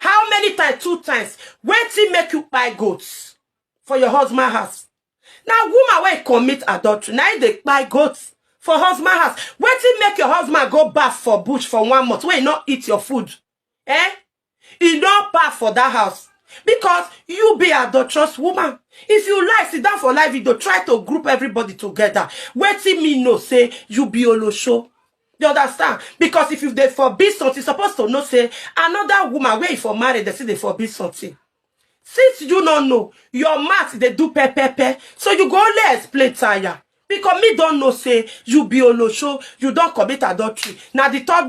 How many times? Two times. Wetin make you buy goats for your husband house? Na woman wey commit adultery, na im dey buy goats for husband house. Wetin make your husband go baff for bush for one month wey e no eat your food? Eh? E no baff for that house because you be adulterous woman. If you lie, sit down for live video, try to group everybody together. Wetin me know say you be olosho. You understand? Because if you dey forbid something, you supposed to know say another woman where you for married, they see they forbid something. Since you don't know, your mouth they do pe pe pe. So you go only explain tire. Because me don't know say you be olosho, you don't commit adultery. Now the third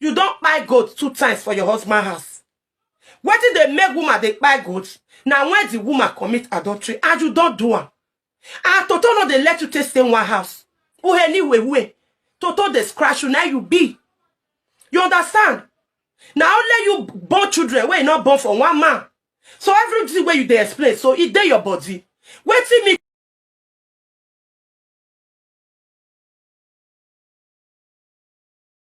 You don kpai goat two times for your husband house. Wetin dey make woman dey kpai goat na when the woman commit adultery and you don do am. And Toto no dey let you take stay one house. Uheni wewe. Toto dey scratch you, na you be. You understand? Na only you born children wey you no born for one man. So everything wey you dey explain so e dey your body. Wetin me